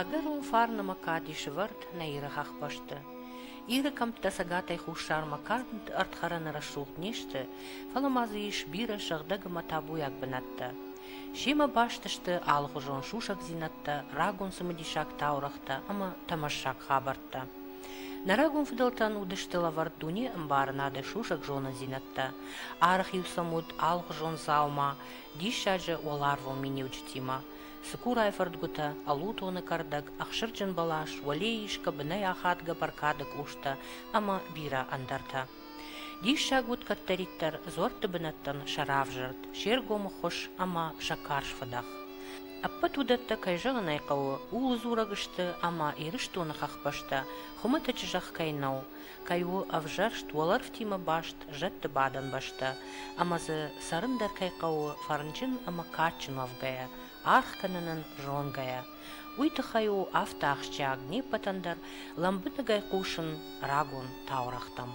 Ӕгӕрон фарнӕмӕ кади сывӕрд нӕ Иры хӕхбӕсты. Иры кӕмттӕ цӕгатӕй хуссармӕ канд ӕрдхӕрӕны рӕсугъд не сты, фӕлӕ ма дзы ис бирӕ сыгъдӕг ӕмӕ табуйаг бынӕттӕ. Семӕ баст сты алыхуызон сусӕгдзинӕдтӕ, рагон цымыдисаг таурӕгътӕ ӕмӕ тӕмӕссаг хабӕрттӕ. Нӕ рагон фыдӕлтӕн уыдысты лӕвӕрд дуне ӕмбарынады сусӕг зонындзинӕдтӕ. Арӕх-иу сӕм уыд алыхуызон дзаума, диссаджы уӕларвон миниуджытимӕ – цыкурайы фӕрдгуытӕ, ӕлутоны кӕрдӕг, ӕхсырджын бӕлас, уӕлейы исгӕ бынӕй ахадгӕ бӕркады къустӕ ӕмӕ бирӕ ӕндӕртӕ. Диссаг уыд кӕддӕриддӕр дзуӕртты бынӕттӕн сӕ равзӕрд, се ргомы хус ӕмӕ сӕ карз фыдӕх. Ӕппӕт уыдӕттӕ, кӕй зӕгъын ӕй хъӕуы, ууыл дзурӕг сты, ӕмӕ Ирыстоны хӕхбӕстӕ хуымӕтӕджы зӕхх кӕй нӕу, кӕй у ӕвзӕрст уӕлӕрвтимӕ баст зӕдты бадӕн бӕстӕ, ӕмӕ дзы цӕрын дӕр кӕй хъӕуы фӕрнджын ӕмӕ кадджын уӕвгӕйӕ, аргъ кӕнынӕн зонгӕйӕ. Уый тыххӕй у афтӕ ахсджиаг неппӕтӕн дӕр лӕмбынӕгӕй хъусын рагон таурӕгътӕм.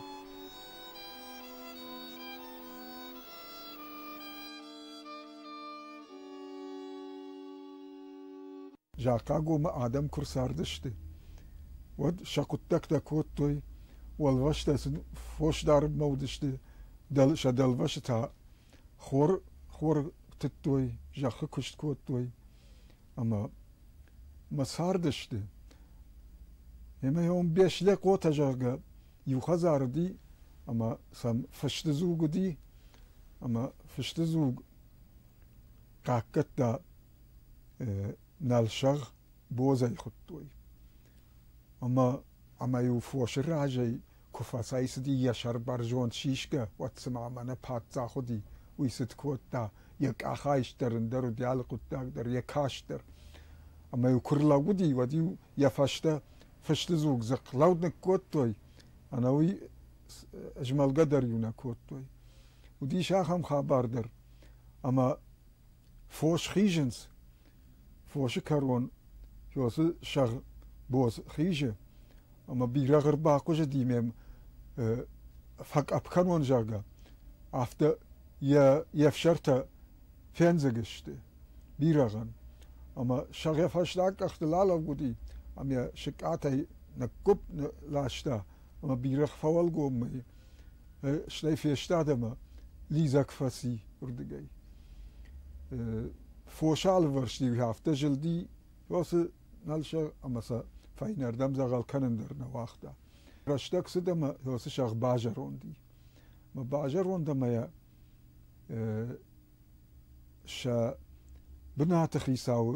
Захъагомы адӕм куы рцардысты, уӕд сӕ хъуыддӕгтӕ кодтой, уӕлвӕстӕ сын фос дарынмӕ уыдысты, сӕ дӕлвӕсы та Хор хор тыдтой, зӕххы куыст кодтой ӕмӕ мӕ цардысты. Емӕ ом Беслӕкъотӕ, зӕгъгӕ, иу хӕдзар уыди ӕмӕ сӕм фысты дзуг уыди ӕмӕ фысты дзуг хъахъхъӕдта Налсӕгъ Бодзӕй хуыдтой. Ӕмӕ ӕмӕ-иу фосы разӕй Куы фӕцӕйцыди йӕ сӕр бӕрзонд сисгӕ, уӕд цыма мӕнӕ паддзах уыди, уый цыд кодта, йӕ къахайст дӕр, ӕндӕр уыд йӕ алы хъуыддаг дӕр, йӕ каст дӕр. Ӕмӕ-иу куы рлӕууыди, уӕд-иу йӕ фӕстӕ фысты дзуг дзыхъхъ лӕуд ныккодтой, ӕнӕуый змӕлгӕ дӕр-иу нӕ кодтой. Уыдис ахӕм хабар дӕр, ӕмӕ фос хизынц, Фосы кӕрон фёсы сӕгъ боз хизы, ӕмӕ бирӕгъ ӕрбахъуызыди ме фӕкъӕпп кӕнон, зӕгъгӕ, афтӕ йӕ йе фсӕртӕ фендзыг сты бирӕгъӕн. Ӕмӕ сӕгъ йӕ фӕстаг къӕхтыл алӕууыди ӕмӕ йӕ сыкъатӕй ныккуыпп ласта. ӕма бирӕгъ фӕуӕлгоммӕ стӕй фестад ӕма лидзӕг фӕци уырдыгӕй. Фос алывӕрсти афтӕ зылди, фосы налсӕ ӕмӕ сӕ фӕйнӕрдӕм дзӕгъӕл кӕнын дӕр нӕ уагъта. Рӕстӕг цыд ӕмӕ фосы сӕгъ базӕронд и. Ӕмӕ базӕронд ӕмӕ йӕ сӕ бынаты хицауы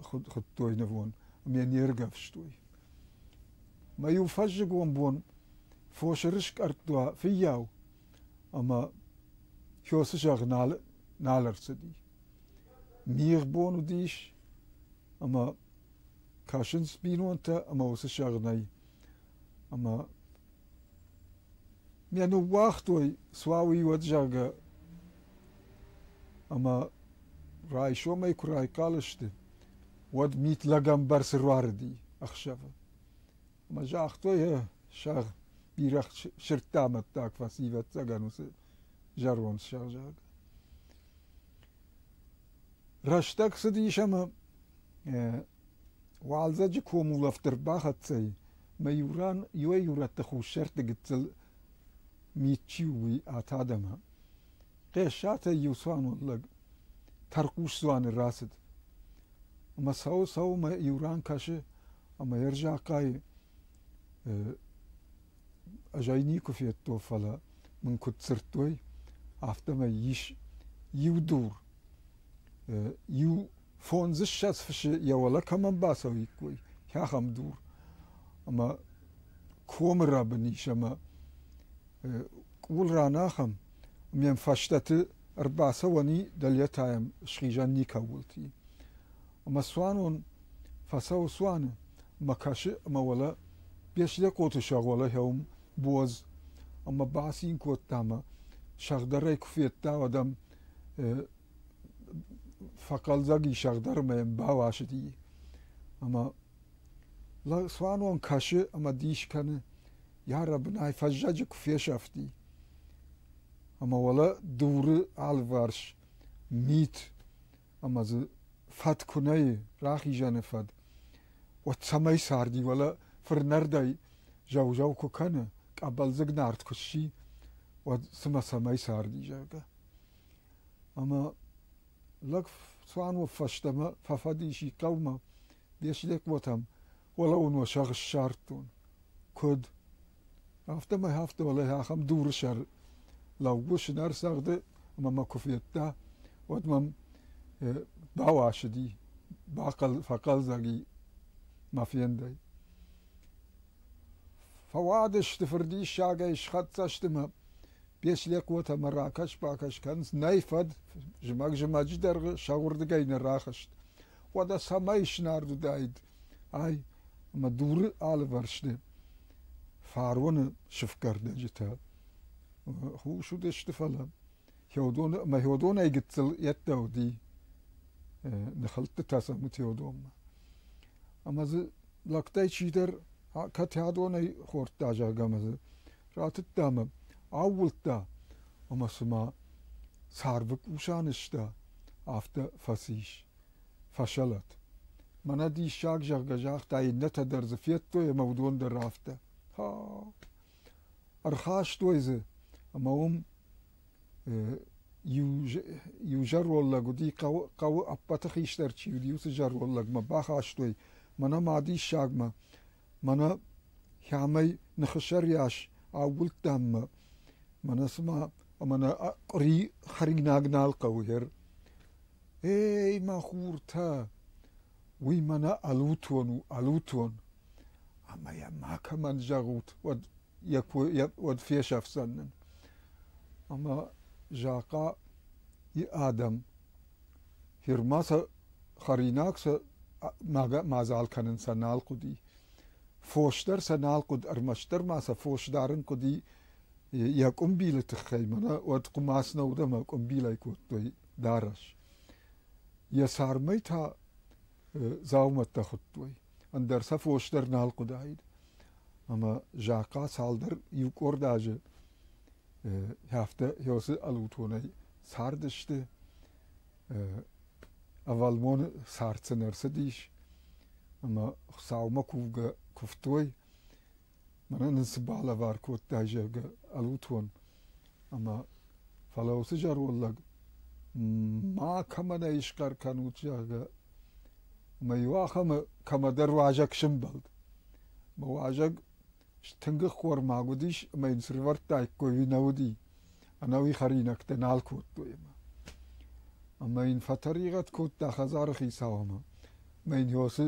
хуыдтой нывон ӕмӕ йӕ не ргӕвстой. Мӕ-иу фӕззыгон бон фосы рыскъӕртт уа фыййау, ӕмӕ Фёсы зӕгъ нал, нал ӕрцыди. Мигъ бон уыдис, ӕмӕ кӕсынц бинонтӕ, ӕмӕ уыцы сӕгънӕй. Ӕмӕ мӕ ныууагътой суауи уӕд, зӕгъгӕ, ӕмӕ райсомӕй куы райхъал сты, уӕд мит лӕгӕмбӕрцы руарыди ӕхсӕвы. Ӕмӕ загътой, сӕгъ бирӕ сырдта амӕттаг фӕци, ӕвӕццӕгӕн уыцы зӕронд сӕгъзаг. Рӕстӕг цыдис ӕмӕ уалдзӕджы комулӕфт ӕрбахӕццӕй, мӕ иу ран иуӕй-иурӕтты хуссӕртты гыццыл мит чи у, уый ат адӕмы. Хъӕссатӕй иу цуанон лӕг тӕрхъус дзуаны рацыд ӕмӕ цӕуы-цӕуымӕ иу ран кӕсы ӕмӕ йе рзӕхъхъайы азӕй никуы федтой, фӕлӕ мын куыд дзырдтой, афтӕмӕй ис иу дур, иу фондзыссӕдз фысы йӕ уӕлӕ кӕмӕн бацӕуиккой, ахӕм дур, ӕмӕ комы рӕбын ис ӕмӕ къул ранахӕм, Ме фӕстӕты ӕрбацӕуӕни дӕлетӕйӕм схизӕн никӕуылти. Ӕмӕ цуанон фӕцӕуы цуаны, мӕ кӕсы ӕмӕ уӕлӕ Беслӕкъоты сӕгъуӕлӕхӕуым буаз ӕмӕ бацин кодта мӕ сӕгъдӕрӕй куы федта, уӕд ӕм фӕхъӕлдзӕг и сӕгъдӕр ӕмӕ йӕм бауасыди. Ӕмӕ Лӕг цуанон кӕсы ӕмӕ дис кӕны, йӕ рӕбынӕй фӕззӕджы куы фесӕфти. Ӕмӕ уӕлӕ дуры алыварс мит ӕмӕ дзы фӕд куы нӕ и, рахизӕны фӕд, уӕд цӕмӕй царди, уӕлӕ фырнӕрдӕй зӕу-зӕу куы кӕны, къӕбӕлдзыг нард куы сси, уӕд цымӕ цӕмӕй царди, зӕгъгӕ. Ӕмӕ Лӕг цуанон фӕстӕмӕ фӕфӕдис и хъӕумӕ, Беслӕкъотӕм, уӕлӕуын уӕ сӕгъ ссардтон, куыд. Афтӕмӕй афтӕмӕлӕй ахӕм дуры сӕр лӕууы сынӕр цӕгъды ӕмӕ мӕ куы федта, уӕд мӕм бауасыди, фӕхъӕлдзӕг и мӕ фендӕй. Фӕуадысты фырдиссагӕй схӕццӕ сты мӕ Беслӕг уотӕмӕ ракӕс-бакӕс кӕнынц, нӕй фӕд, зымӕг зымӕджы дӕргъы сӕ уырдыгӕй нӕ рахызт. Уӕдӕ цӕмӕй снард уыдаид ай ӕмӕ дуры алывӕрсты фароны сыфгӕрдӕджытӕ хус уыдысты, фӕлӕ Феодон ӕмӕ Феодонӕй гыццыл йеддӕ уыди ныхӕлдтытӕ сӕм Феодонмӕ. Ӕмӕ дзы лӕгтӕй чидӕр кӕд адонӕй хордта, зӕгъгӕ, ма дзы ратыдта ӕмӕ аууылдта, ӕмӕ цыма царвы къусӕн ыста, афтӕ фӕцис фӕсӕлӕт. Мӕнӕ диссаг, зӕгъгӕ, загъта, иннӕтӕ дӕр дзы федтой ӕмӕ уыдон дӕр афтӕ. Ха! Ӕрхастой дзы, ӕмӕ уым Иу зӕронд лӕг уыди, хъӕуы ӕппӕты хистӕр чи уыди, уыцы зӕронд лӕгмӕ бахастой мӕнӕ мӕ диссагмӕ. Мӕнӕ хӕмӕй ныхысӕрйас аууылдтам мӕ. Мӕнӕ цыма ӕмӕ нӕ хӕринаг нал хъӕуы, гъер. Ей, мӕ хуртӕ! Уый мӕнӕ ӕлутон у, ӕлутон, ӕмӕ йӕ макӕмӕн зӕгъут, уӕд, йӕ кой, йӕ, уӕд фесӕфдзӕн нын. Ӕмӕ Захъа и адӕм Хирма сӕ хӕринаг сӕ мадзал кӕнын сӕ нал хъуыди. Фос дӕр сӕ нал хъуыд, ӕрмӕстдӕр ма сӕ фос дарын хъуыди йӕ къуымбилы тыххӕй, мӕнӕ уӕд хъуымац нӕ уыд ӕмӕ къуымбилӕй кодтой дарӕс. Йӕ цармӕй та дзаумӕттӕ хуыдтой, ӕндӕр сӕ фос дӕр нал хъуыдаид. Ӕмӕ Захъа цалдӕр иу къорд азы афтӕ Иосы ӕлутонӕй цардысты. Ӕвӕлмоны цард сын ӕрцыдис, ӕмӕ Хуыцаумӕ кувгӕ куывтой. мӕнӕ нын цы балӕвар кодтай, зӕгъгӕ, ӕлутон ӕмӕ фӕлӕ уыцы зӕронд лӕг ма кӕмӕн ӕй схъӕр кӕнут, зӕгъгӕ, ӕмӕ иу ахӕмы кӕмӕдӕр уазӕг сымбӕлд. Мӕ уазӕг стынг ӕххормаг уыдис ӕмӕ йын срывӕрдтаиккой ӕви нӕ уыди. ӕнӕуи хӕринӕгтӕ нал кодтой ӕмӕ. Ӕмӕ йын фӕтӕригъӕд кодта хӕдзары хицау ӕмӕ ӕмӕ йын Йосы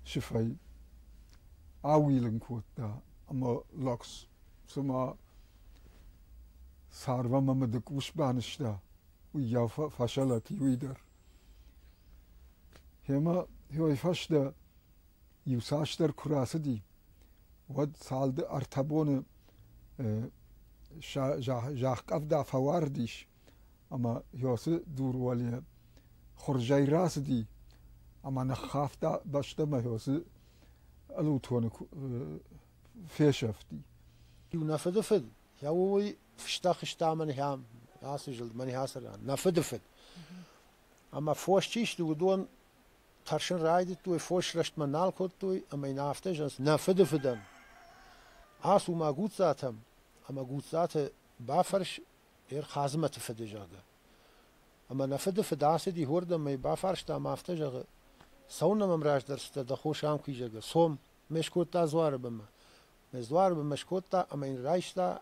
сыфӕй аууилын кодта ӕмӕ лӕгс, цыма царвӕм ӕмӕ дык ус банызта, уыйау фӕсӕлӕт иуи дӕр. Гьемӕ, йой фӕстӕ Иуцасдӕр куы рацыди, уӕд цалды ӕртӕ боны зӕхкъӕвда фӕуардис ӕмӕ Иосы дур уӕле хуырзӕй рацыди ӕмӕ ныххафта бӕстӕмӕ Иосы ӕлутоны фесӕфти. Иу нӕ фыдыфыд, йӕ уый фыста хызта мӕнхӕ ацы зылд, мӕнхӕ ацы ран, нӕ фыдыфыд. Ӕмӕ фос чи сты, уыдон Тӕрсын райдыдтой, фос рӕстмӕ нал кодтой ӕмӕ йын афтӕ зӕгъынц: нӕ фыдыфыдӕн, ацу ма Гуццатӕм, ӕмӕ Гуццаты бафӕрс Ӕрхадзмӕты фыды, зӕгъгӕ. Ӕмӕ нӕ фыдыфыд ацыди уырдӕм ӕмӕ бафарста ӕмӕ афтӕ зӕгъы: цӕуылнӕ мӕм раздӕрстытӕ дӕ хос ам куй, зӕгъгӕ. цом, ме скодта дзуары бынмӕ. Мӕ дзуары бынмӕ скодта ӕмӕ йын райста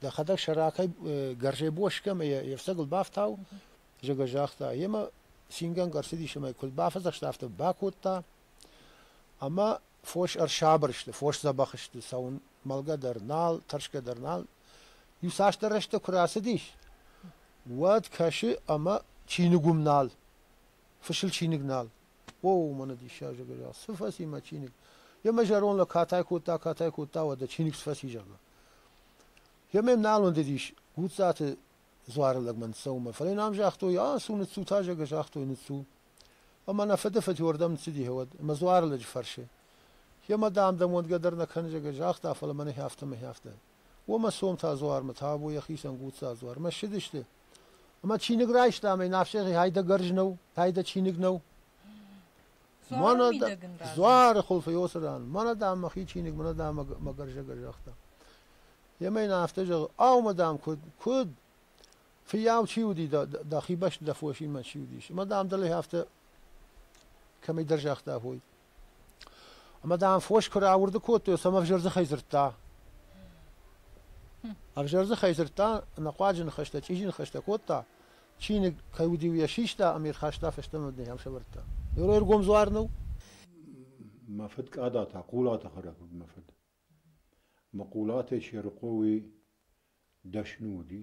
Дӕхӕдӕг сӕ ракӕй гӕрзӕй боси кӕмӕ йе фцӕгыл бафтау, зӕгъгӕ, загъта. Йемӕ цингӕнгӕ ӕрцыдис ӕмӕ куыд бафӕдзӕхста, афтӕ бакодта. Ӕмӕ фос ӕрсабыр сты, фос дзӕбӕх сты, цӕуын мӕлгӕ дӕр нал, тӕрсгӕ дӕр нал. Иуцасдӕр рӕстӕг куы рацыдис, уӕд кӕсы, ӕмӕ чиныг уым нал, фысыл чиныг нал. О, мӕнӕ диссаджы гӕза, цы фӕци мӕ чиныг? Йе мӕ зӕронд лӕг катай кодта, катай кодта, уӕдӕ чиныг сфӕци, зӕгъы. Йе ме нал ӕндыдис Гуццаты дзуары лӕгмӕ ныццӕуынмӕ, фӕлӕ йын ам загътой, а, цу, ныццу, та, зӕгъгӕ, загътой, ныццу. Ӕмӕ нӕ фыды фыдйуӕрдӕм ныццыди гьӕуӕд, ӕмӕ дзуары лӕджы фӕрсы. Йемӕ, дам, дӕм уӕндгӕ дӕр нӕ кӕн, зӕгъгӕ, загъта, фӕлӕ мӕнӕ хӕфтӕ, мӕ хӕфтӕ. О, мӕ сом та дзуармӕ, та або йӕхицӕн Гуцца дзуар. Мӕ ссыдысты. Ӕма чиныг райста ӕма ин ӕфсӕги хайдагӕрз нӕу, пайда чиныг нӕу. Мӕнӕ да- дзуары хулфӕй уоцы ран, мӕнӕ дам мӕхи чиныг, мӕнӕ дам мӕ г- мӕ гӕрзӕгӕ загъта. Емӕ ин афтӕ зӕгъы, ау, мадам, куд, куд? Фиййау чи уди дӕ, дӕ- дӕхи бӕсти дӕ фосинмӕ чи уидис? Мадам дӕле афтӕ кӕмӕйдӕр загъта, ой. Ӕмӕ, дам, фос куы рауырды кодтой, цӕмӕ ӕвзӕр дзыхӕй дзырдта? Ӕвзӕр дзыхӕй дзырдта, ӕнӕхъуаджы ныхӕстӕ, чъизи ныхӕстӕ кодта, чиныг кӕй уыд-иу йӕ систа ӕмӕ ирхӕста фӕстӕмӕ ӕм нӕм сӕвӕрдта. Ирои ӕргом дзуар нӕу? Мӕ фыд Къада та Хъулаты хӕрӕг уыд мӕ фыд. Мӕ Хъулатӕй Серыхъо уый дӕсны уыди.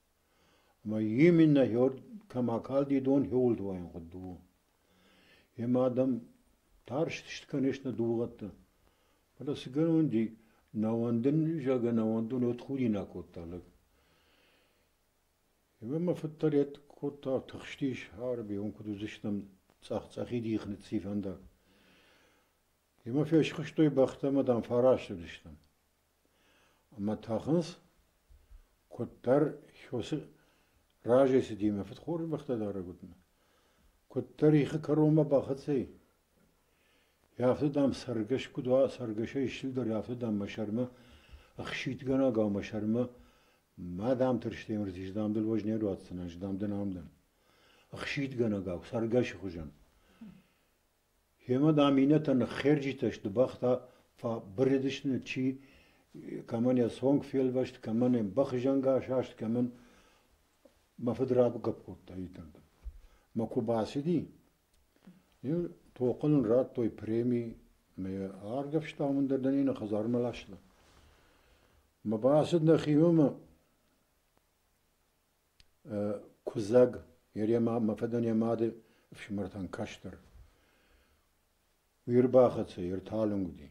Ӕмӕ именно хёрд кӕм акалди, дон хёуылдуайӕн хуыдды у. Йемӕ адӕм тарст скӕныс нӕ дугъӕтты. Фӕлӕ цы гӕнӕн уыди, нӕ уӕндын, зӕгъгӕ, нӕ уӕндон уӕд худинаг кодта лӕг. Йемӕ мӕ фыд дӕр йӕ кодта тыхстис, ӕрӕбйон куыд уыдзыстӕм цъӕх-цъӕхид ихы ныццифӕндаг. Йемӕ фесхуыстой бӕхтӕ ӕмӕ дам фӕрӕстыдыстӕм. Ӕмӕ тӕхынц, куыддӕр Хёсы разӕй цыди мӕ фыдхорбӕхтӕ дарӕг уыдмӕ, куыддӕр ихы кӕронмӕ бахӕцӕй, афтӕ, дам, цӕргӕс куыд уа, цӕргӕсӕй ыстылдӕр, афтӕ, дам, мӕ сӕрмӕ ӕхситгӕнӕг ӕмӕ мӕ сӕрмӕ ма дам тӕрстӕй мырзис, дам дыл уӕз не руадздзынӕн, ӕз, дам, дын ам дӕн. Ӕхситгӕнӕгау, цӕргӕсы хуызӕн. Йемӕ, дам, иннӕтӕ ныххерджитӕ сты, бӕхтӕ фӕбырыдысты, чи кӕмӕн йӕ цонг фелвӕст, кӕмӕн йӕ бӕхзӕнгӕ асаст, кӕмӕн мӕ фыд рагуыгӕп кодта итӕнты. Мӕ куы бацыди, йын тохъы нын радтой преми ӕмӕ йӕ аргӕвстам ӕндӕр дӕр йын йӕ хӕдзармӕ ласта. Мӕ бацыд нӕхимӕ ӕмӕ Куыдзӕг мӕ фыдӕн йӕ мады ӕфсымӕртӕн кӕстӕр. Уый ӕрбахӕццӕ, йе рталынг уыди.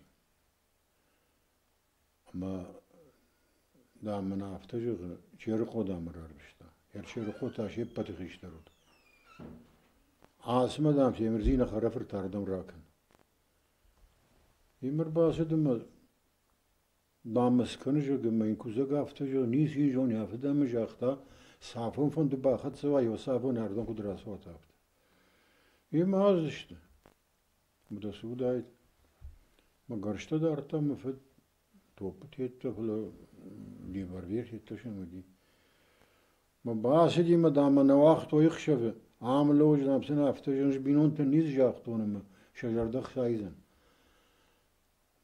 Ӕмӕ, дам, мын афтӕ зӕгъы, Черыхъо, дам, ӕрӕрвыста. Йе рчерыхъо та се ппӕты хистӕр уыд. Ацымӕ, дам, Семирдзины хӕрӕфырт ардӕм ракӕн. Йемӕ ӕрбацыд ӕмӕ Бамбӕрст кӕны, зӕгъгӕ, мӕн кусӕг афтӕ зӕгъы, ницы йын зоны афтӕ, ӕмӕ загъта, цафон фӕнды бахӕццӕ уа, иу цафон ӕрдӕм куыд рацуат афтӕ. Йемӕ аздзысты. Уыдосы уыдаид. Мӕ гӕрзтӕ дардта мӕ фыд топпы тедта, фӕлӕ револьвер федтасын уыди. Мӕ бацыди мӕ дӕмӕ нӕ уагътой ӕхсӕвы, ам лӕууыдзӕн, афтӕ зӕгъын, бинонтӕн ницы загътон ӕмӕ сӕ зӕрдӕ хсайдзӕн.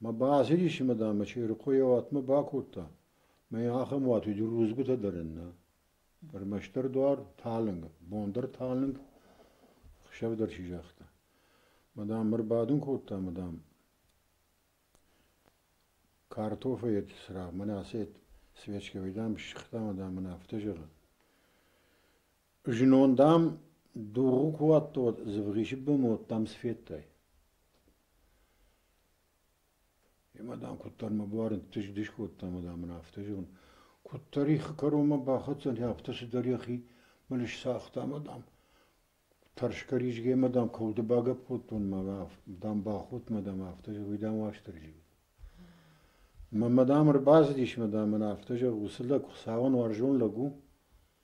Мӕ бацидисимӕ, дам, мӕ чъирыхъо йӕ уатмӕ бакодта, мӕй ахӕм уаты иу рудзгуытӕ дӕр нӕ, ӕрмӕстдӕр дуар талынг, бон дӕр талынг, хсӕв дӕр чи загъта. Мӕ дам, ӕрбадын кодта, мӕ дам, картофӕйы цырагъ, мӕнӕ ацы свечкӕ, уый, дам, сыгъта, мӕ дам, мын афтӕ зӕгъы. Знон, дам, дугъы ку уадтӕ, уӕд Дзывгъисы бынот, дам, цы федтай? Йемӕ, дам, куыддӕр мӕ буары ныддис-дис кодта ӕмӕ, дам, ын афтӕ зӕгъын: куыддӕр их кӕронмӕ бахӕцдзӕни, афтӕ цыдӕр йӕхи мын ысцагъта ӕмӕ, дам, тӕрсгӕ-ризгӕмӕ, дам, кӕуылты багӕпподтон мӕ, дам, бахудт мӕ, дам, афтӕ зӕгъ, уый, дам, Уастырджи уыд. Мӕ мӕ, дам, ӕрбацыдис мӕ, дам, ын афтӕ зӕгъ: уыцы лӕг Хуыцауӕн уарзон лӕг у?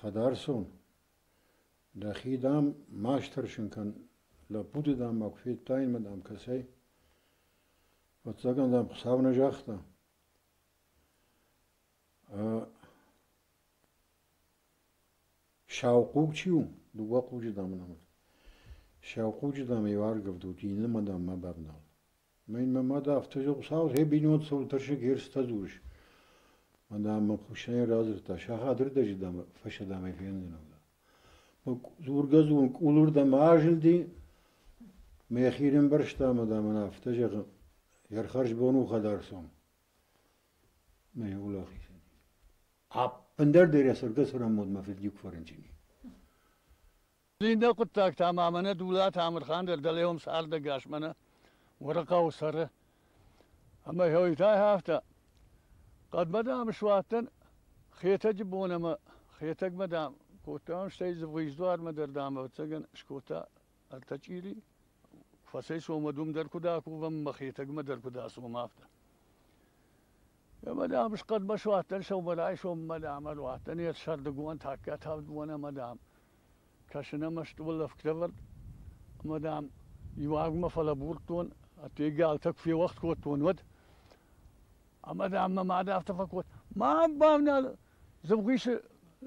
Хӕдарцон, дӕхи, дам, ма стӕрсын кӕн, лӕппуты, дам, ма куы федтаинмӕ, дам, кӕцӕй. Ӕвӕццӕгӕн, дам, Хуыцау нӕ загъта. Саухъуг чи у? Дыууӕ хъуджы, дам, ын амыд. Саухъуджы, дам, иу аргӕвд у, иннӕмӕ, дам, ма бавнал. Мӕн мӕ мад афтӕ зӕгъы: Сау гъе бинонсон тӕрсыг ерыстӕ дзурыс. Мадам мӕ куыстӕй радзырдта: сахаты рдӕджы фӕсӕдӕмӕй фендзынӕн. Мӕ дзургӕ-дзурын къулырдӕм азылди, мӕхи ӕрӕмбӕрзта ӕмӕ, дам, ын афтӕ зӕгъы: Йӕ хӕрзбон у хӕдӕрцон. Мӕ уӕлахизӕн. Ӕппындӕр дӕр йӕ цӕргӕ-цӕрӕнмодмӕ фӕдиуг фӕрынчын и. Иннӕ хъуыддӕгтӕ ма мӕнӕ Дулат Амырхан дӕр дӕлейон цардӕгас мӕнӕ Уӕрыхъӕуы цӕры. Ӕмӕ хьойтӕй афтӕ. Хъӕдмӕ, дам, суадтӕн Хетӕджы бон ӕмӕ Хетӕгмӕ, дам, кодтам, стӕй Дзывгъуйы дуармӕ дӕр, дам, ӕвӕццӕгӕн скодта ӕртӕ чъири. Фӕцӕй сомӕ дум дӕр куыд акувӕм ӕмӕ Хетӕгмӕ дӕр куыд ацомӕм, афтӕ. Ӕма дам, хъӕдмӕ суадтӕн сӕумӕрайсоммӕ, дама, руадтӕн ес сӕрдыгон тӕккӕ тӕвд бонӕмӕ, дам, кӕсун ӕма стъолӕфгдӕвӕрд. Ӕма, дам, иуагмӕ фӕлӕбурдтон, адтӕй галтӕ куы феуӕгъд кодтон, уӕд. Ӕма, дам, мӕ мад афтӕ фӕкодта: ма бавнал дзывгъисы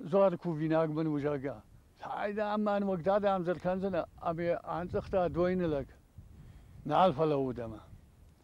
дзуары кувинаг мын, зӕгъгӕ. Ай, дам, мӕн уӕгдад ӕмдзӕр кӕндзӕнӕ, ами андзӕгъта дойны лӕг. Нал фӕлӕуд ӕма.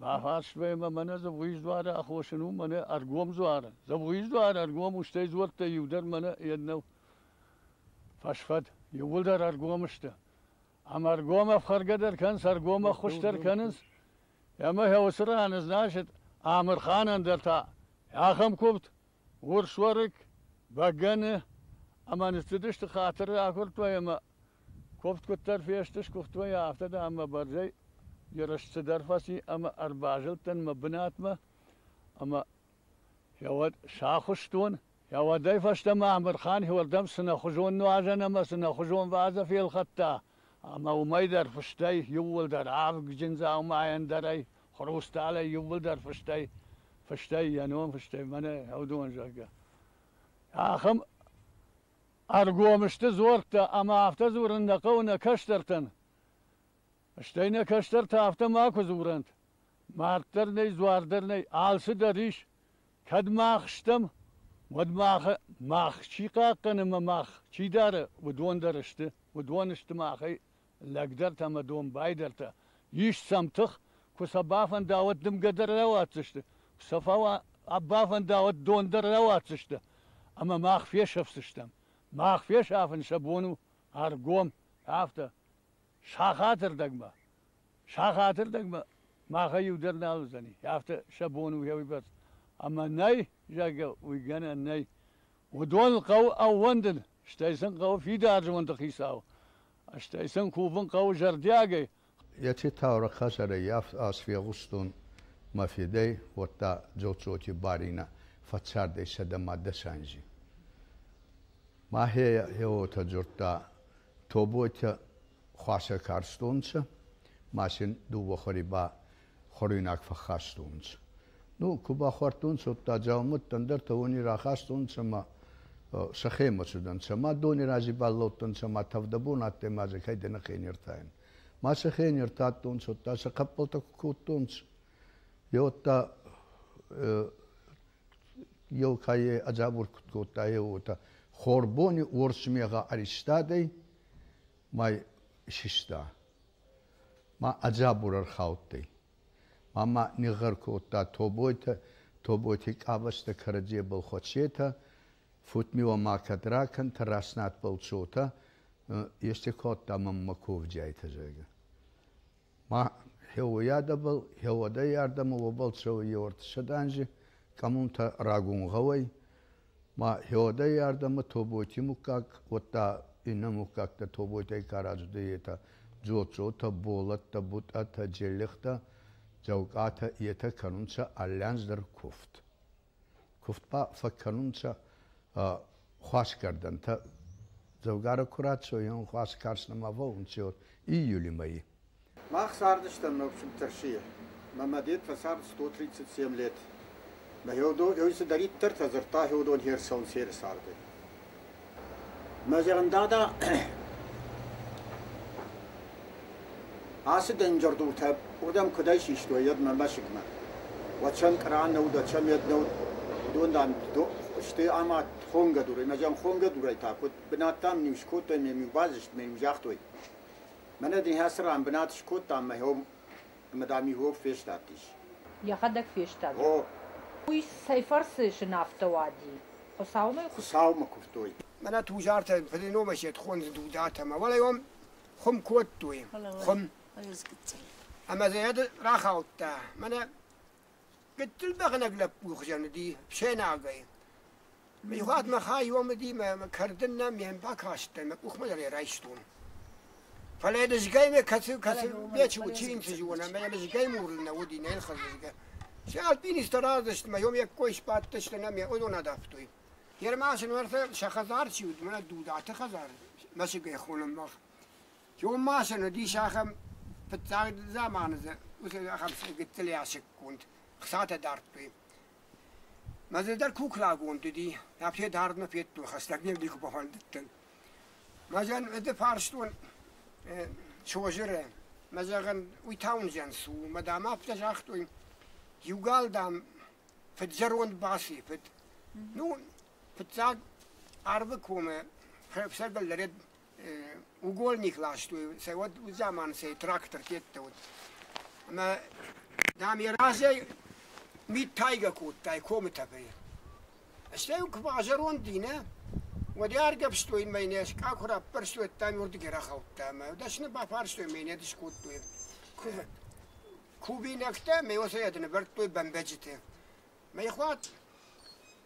Бафарст мӕ, мӕнӕ дзӕбгъуиз дзуары ахосын у, мӕнӕ ӕргом дзуары. Дзӕбгъуиз дзуар ӕргом у, стӕй дзуӕрттӕй иу дӕр мӕнӕ йе ннӕу фӕсфӕд. Иууылдӕр ӕргом сты. Ам ӕргом ӕфхӕргӕ дӕр кӕнынц, ӕргом ӕххуысдӕр кӕнынц. Ӕмӕ йӕ уыцы ран ызнасыд, Амырханӕн дӕр та ахӕм куывд, Урсуарыг, бӕгӕны ӕмӕ ныццыдысты хатыры агуырдтуӕй ӕмӕ куывд куыддӕр фесты, сгуыхтуӕй, афтӕ дӕр мӕ бӕрзӕй ерыс цыдӕр фӕци ӕмӕ ӕрбазылдтӕн мӕ бынатмӕ ӕмӕ йӕуӕд сахуыстон. Йӕуӕдӕй фӕстӕмӕ Амырхан уырдӕм цынӕхуызон нуазӕн ӕмӕ цынӕхуызон ваза фелхӕдта ӕмӕ уымӕй дӕр фыстӕй, иууылдӕр авгджын дзаумайӕн дӕр ӕй Хрусталӕй иууылдӕр фыстӕй, фыстӕй йӕ ном, фыстӕй мӕнӕ Ӕвдуон, зӕгъгӕ. Ахӕм ӕргом сты дзуӕрттӕ ӕмӕ афтӕ дзурын нӕ хъӕуы нӕ кӕстӕртӕн. Стӕй нӕ кӕстӕртӕ афтӕ макуы дзурӕнт. Мард дӕр нӕй, дзуар дӕр нӕй, алцы дӕр ис. Кӕд мах стӕм, уӕд мах, мах чи хъахъхъӕны ӕмӕ мах чи дары, уыдон дӕр сты, уыдон сты махӕй лӕгдӕртӕ ӕмӕ домбайдӕртӕ ис сӕм тых, куы сӕ бафӕндауӕд дымгӕ дӕр рауадздзысты, куы сӕ бафӕндауӕд дон дӕр рауадздзысты, ӕмӕ мах фесӕфдзыстӕм. Мах фесафын сӕ бон у ӕргом, афтӕ сахаты рдӕгмӕ. Сахаты рдӕгмӕ махӕй иу дӕр нал уыдзӕни, афтӕ сӕ бон у уӕвыйбӕрц. Ӕмӕ нӕй, зӕгъгӕ, уый гӕнӕн нӕй. Уыдон хъӕуы ӕууӕндын, стӕй сын хъӕуы фидар зонды хицау Стӕй сын кувын хъӕуы зӕрдиагӕй. Еци таурӕхъ хӕдзарӕй ас фегъустон мӕ федӕй, уӕдта Дзоцъоти Баринӕ фӕццардӕй сӕдӕ ма дӕс анзи. Мӕхе е уотӕ дзурдта, Тоботӕ хуасӕ карстонцӕ, ма син дууӕ хуӕри ба хуӕруйнаг фӕххастонцӕ. Ну, ку бахуардтонцӕ, удта дзаумӕттӕ, ӕндӕртӕ уони рахастонцӕ ма сӕхемӕ цудӕнцӕ. Ма дони рази баллӕудтӕнцӕ ма тӕвдӕбон адтӕй ма дзӕ кайдӕнӕхе нертаен. Ма сӕхе нертадтонцӕ, удта сӕ хъӕппӕлтӕ ку кодтонцӕ. Е удта еу кайе ӕдзӕбур куд кодта, е уотӕ хорбони уорс мегъӕ ӕристадӕй, май систа. Ма ӕ дзабур ӕрхаудтӕй. Ма мӕ нигъгъӕр кодта Тобойтӕ, Тобойти къабӕзтӕ кӕрӕдзебӕл хуӕцетӕ, фут-ми уӕ ма кӕд ракӕнтӕ, раснӕтбӕл цотӕ, ести кодта мӕм мӕ кувдиайтӕ, зӕгъгӕ. Ма хеуоййадӕбӕл, хеуодӕй ардӕмӕ уобӕл цӕуй еуӕртӕссӕдӕнзи, къӕмунтӕ рагун гъӕуӕй. ма хеуӕдӕй ардӕмӕ тобойти муггаг, уӕдта иннӕ муггӕгтӕ тобойтӕй ка раздӕй, етӕ Дзоццотӕ, Болӕттӕ, Бутъатӕ, Джеллихтӕ, Дзӕвгъатӕ етӕ кӕнунцӕ аллӕнздӕр кувд. Кувд ба фӕккӕнунцӕ хуӕсгӕрдӕнтӕ. Дзӕвгарӕ ку рацӕуйан, хуӕс карз нӕма фӕуунцӕ июлимӕй. Мах цардыстӕм ногфыд Тӕрсыйы, мӕ мадед фӕцард сто тридцать семь лет. Мӕ Хеодон, ой, цыдӕриддӕр та дзырдта Хеодон Херсон Сӕры царды. Мӕ зӕгъын, дада, ацы дынджырдуртӕ уырдӕм куыдӕй систой йӕд мӕ мӕсыгмӕ. Уӕд сӕм къра нӕ уыд, уӕд сӕм йед нӕ уыд. Уыдон, дам, до- сты ӕмӕ хонгӕ дурӕй, мӕ зӕгъын, хонгӕ дурӕй та куыд бынат, дам, ниу скодтой, ме-иу баззыст, ме-иу загътой. Мӕнӕ дын йӕ цы ран бынат скодтам мӕ ном ӕмӕ дам иууыл фестадтис. Йӕхӕдӕг фестад. Гъо. Уый цӕй фӕрцы сынӕфтӕ уади? Хуыцаумӕ? Хуыцаумӕ куывтой. Мӕнӕ Тузартӕ Блиномӕ се тхондзы Дудатӕ мӕ уӕлӕйом хуым кодтой. Хуым. Ӕмӕ дзы рахаудта. Мӕнӕ Гыццыл бӕгънӕг лӕппу хуызӕн уыди фсӕнагӕй. Мызгъуатмӕ хаиомыди мӕ мӕ кӕрдын нӕм ме мбакастӕн, мӕ къухмӕ дӕр ӕй райстон. Фӕлӕ дызгӕй мӕ кӕцыл-кӕцыл печи уыд, чи йын чызг уона, мӕ мызгӕй мурлын нӕ уыди, нӕ нхъӕлдзысгӕ. Се альпинисттӕ разыст мӕ йом йӕ кой сбадтысты нӕ мӕ уыдон адавтой. Ермасы нуӕртӕ сӕ хӕдзар чи уыд, мӕнӕ Дудаты хӕдзар, мӕсыгӕй хонӕм мах. Чъон ма сын уыдис ахӕм фыццаг заманы дзы уыцы ахӕм гыццыл ясыкгонд хцатӕ дардтой. Мӕ дзы дӕр куклӕгонд уыди, мӕ федардмӕ федтой, хӕстӕг не вдихы бафӕндыдтӕн. Мӕ зӕн ды фарстон Созыры, мӕ зӕгъын, уый Таунзӕн цы у, мӕ дам афтӕ загътой, иу gal, дам, фыд-зӕронд баци, фыд. Ну, фыццаг арвы комы фӕсӕрдӕг лӕрӕд угольник ластой, сӕ уӕд уыд заманы сӕ трактор федта уыд. Ӕмӕ, дам, йӕ разӕй мит тайгӕ кодтай комы тӕгӕй. Стӕй куы базӕронд и, нӕ? Уӕд йӕ аргӕвстой мӕнӕ, скъа куы раппӕрстой, ӕм уырдыг рахаудта ӕмӕ дӕсны бафарстой мӕнӕ, ды скодтой кув... кувинӕгтӕ, мӕ уосӕй ӕд нывӕрдтой бӕмбӕджыты. Мӕ хъуат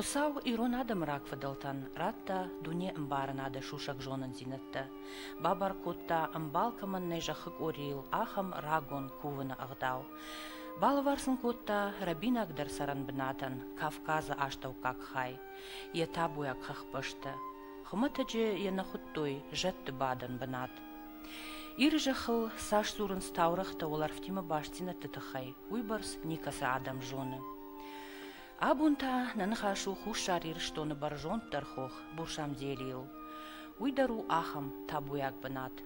Хуыцау ирон адӕмы рагфыдӕлтӕн радта дунеӕмбарынады сусӕг зонындзинӕдтӕ, бабар кодта, ӕмбал кӕмӕн нӕй зӕххы къорийыл, ахӕм рагон кувыны ӕгъдау. Балӕвар-сын кодта рӕбинагдӕр цӕрӕнбынатӕн Кавказы астӕуккаг хай, йӕ табуйаг хӕхбӕстӕ. Хуымӕтӕджы йӕ нӕ хуыдтой зӕдты бадӕн бынат. Иры зӕххыл цас дзурынц таурӕгътӕ уӕлӕрвтимӕ бастдзинӕдты тыххӕй, уыйбӕрц никӕцы адӕм зоны. Абон та нӕ ныхас у Хуссар Ирыстоны бӕрзонддӕр хох Бурсамделийыл. Уый дӕр у ахӕм табуйаг бынат.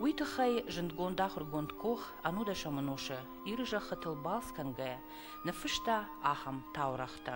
Уый тыххӕй зындгонд ахуыргонд Кох Анудашаманоша Иры зӕххытыл балц кӕнгӕйӕ ныффыста ахӕм таурӕгътӕ.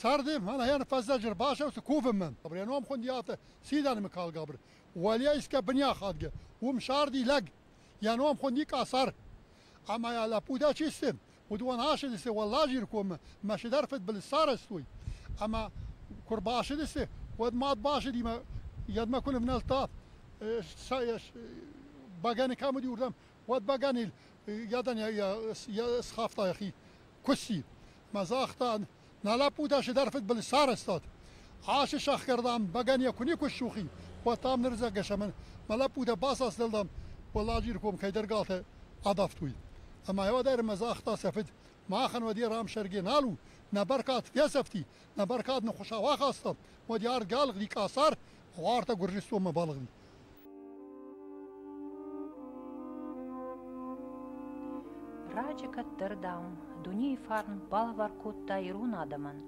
Сӕрди мӕнӕйӕн фӕззӕджер басӕвсӕ кувӕмӕн. Абреном хундиатӕ си дӕнмикалгабр. Уӕле искӕ бунихадгӕ, ум сарди лӕг. Йӕ ном хуынди Къасар. Ӕмӕ йӕ лӕппутӕ чи сты, уыдон асыдысты Уӕлладжиры коммӕ мӕ сӕдӕр фыдбылыз сарӕзтой. Ӕмӕ куы рбасыдысты, уӕд мад басыдимӕ, йедмӕ куы нывнӕлдта, бӕгӕны кӕм уыди, уырдӕм Уӕд бӕгӕнил гӕдан схафта йӕхи куысси мӕ загъта, нӕ лӕппутӕ чидӕр фыдбылыз сарӕзтат. Хӕссы сӕхгӕрдӕм, бӕгӕн йӕ куы никуы ссухи, уӕд та нырдзӕггӕ сӕмӕн мӕ лӕппутӕ бацасдӕлдам, Уӕлладжиры ком кӕйдӕр галтӕ адавтой. Ӕмӕ уӕдӕр мӕ загъта сӕ фыд, махӕн уӕд йӕ рамсӕргӕ нал у, нӕ бӕркад фесӕфти, нӕ бӕркад нын хуыщау ахаста, уӕд йӕ ард галгъди къӕсӕр, гъуартӕ Гуырдзыстонмӕ балыгъди. Раджы кӕддӕр, дам, дунейы фарн балвар кодта ирон адӕмӕн,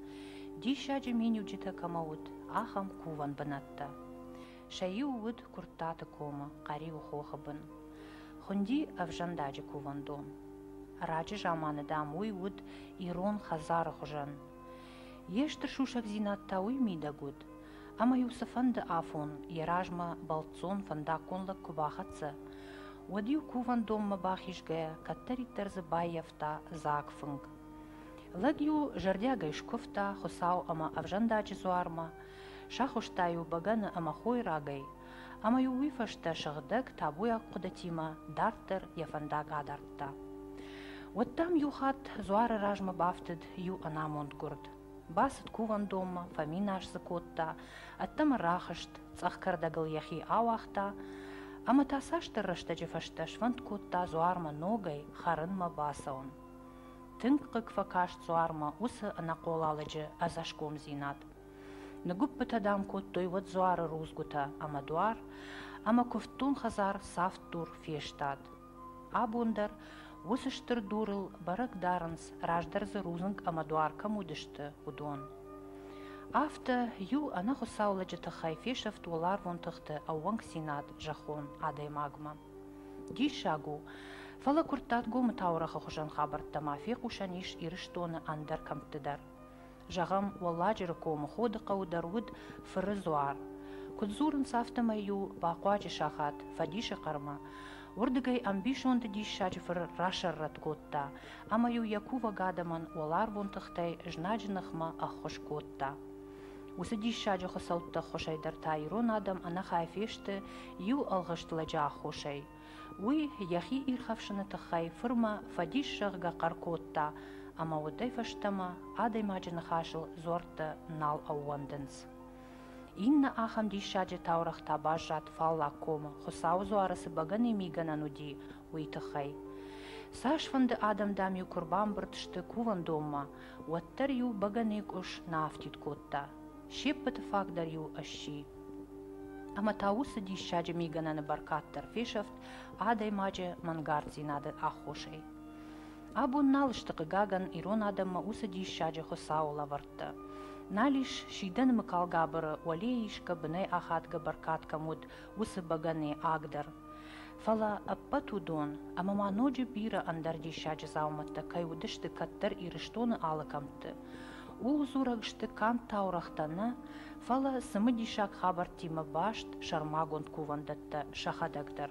диссаджы миниуджытӕ кӕмӕ уыд, ахӕм кувӕн бынӕттӕ. Сӕ иу уыд Куырттаты комы Хъӕриуы хохы бын. Хуынди ӕвзӕндаджы кувӕндон. Раджы заманы, дам, уый уыд ирон хӕдзары хуызӕн. Йе стыр сусӕгдзинад та уый мидӕг уыд, ӕма-еу цийфӕнди афон йе размӕ бӕлццон фӕндаггон лӕг ку бахӕццӕ, уӕд-еу кувӕндонмӕ бахизгӕйӕ кӕддӕриддӕр дзы баййафта дзаг фынг. Лӕг-еу зӕрдиагӕй скувта Хуцау ӕма ӕвзӕндаджи дзуармӕ, сахузта-еу бӕгӕны ӕма хойрагӕй, ӕма-еу уой фӕстӕ сыгъдӕг табуйаг хъудатимӕ дарддӕр йӕ фӕндаг адардта. Уӕдта ам иу хатт дзуары размӕ бафтыд иу ӕнамонд гуырд. Бацыд кувӕндонмӕ, фӕминас дзы кодта, ӕддӕмӕ рахызт, цъӕх кӕрдӕгыл йӕхи ауагъта ӕмӕ та цасдӕр рӕстӕджы фӕстӕ сфӕнд кодта дзуармӕ ногӕй хӕрынмӕ бацӕуын. Тынг хъыг фӕкаст дзуармӕ уыцы ӕнӕхъолалыджы ӕдзӕсгомдзинад. Ныгуыппытӕ дам кодтой уӕд дзуары рудзгуытӕ ӕмӕ дуар, ӕмӕ куывддон хӕдзар цавддур фестад. Абон дӕр уыцы стыр дурыл бӕрӕг дарынц, раздӕр дзы рудзынг ӕмӕ дуар кӕм уыдысты, уыдон. Афтӕ иу ӕнӕхуыцау лӕджы тыххӕй фесӕфт уӕларвон тыхты ӕууӕнкдзинад зӕххон адӕймагмӕ. Диссаг у, фӕлӕ Куырттатгомы таурӕгъы хуызӕн хабӕрттӕ ма фехъусӕн ис Ирыстоны ӕндӕр кӕмтты дӕр. Зӕгъӕм, Уӕлладжыры комы Ходы хъӕуы дӕр уыд фыры дзуар. Куыд дзурынц, афтӕмӕй-иу бахъуаджы сахат, фӕдисы хъӕрмӕ, уырдыгӕй ӕмбисонды диссаджы фыр расӕррӕтт кодта ӕмӕ-иу йӕ кувӕг адӕмӕн уӕларвон тыхтӕй знаджы ныхмӕ ӕххуыс кодта. Уыцы диссаджы хуыцӕутты ӕххуысӕй дӕр та ирон адӕм ӕнӕхай фесты иу ӕлгъыст лӕджы аххосӕй. Уый йӕхи ирхӕфсыны тыххӕй фырмӕ фӕдис зӕгъгӕ хъӕр кодта, ӕмӕ уӕдӕй фӕстӕмӕ адӕймаджы ныхасыл дзуӕрттӕ нал ӕууӕндынц. Иннӕ ахӕм диссаджы таурӕгъ та баззад Фаллаг комы, Хуыцауы дзуары цы бӕгӕныйы мигӕнӕн уыди, уый тыххӕй. Цасфӕнды адӕм, дам-иу куы рбамбырд сты кувӕндонмӕ, уӕддӕр-иу бӕгӕныйы къус нӕ афтид кодта. се ппӕты фаг дӕр-иу сси. Ӕмӕ та уыцы диссаджы мигӕнӕны бӕркад дӕр фесӕфт адӕймаджы мӕнгарддзинады аххосӕй. Абон нал сты хъыгагӕн ирон адӕммӕ уыцы диссаджы Хуыцауы лӕвӕрттӕ. Нал ис сидӕн Мыкалгабыры, уӕле исгӕ бынӕй ахадгӕ бӕркад кӕм уыд, уыцы бӕгӕныйы аг дӕр. Фӕлӕ ӕппӕт уыдон, ӕмӕ ма ноджы бирӕ ӕндӕр диссаджы дзаумӕттӕ кӕй уыдысты кӕддӕр Ирыстоны алы кӕмтты, ууыл дзурӕг сты канд таурӕгътӕ нӕ, фӕлӕ цымыдисаг хабӕрттимӕ баст сӕрмагонд кувӕндӕттӕ сӕхӕдӕг дӕр.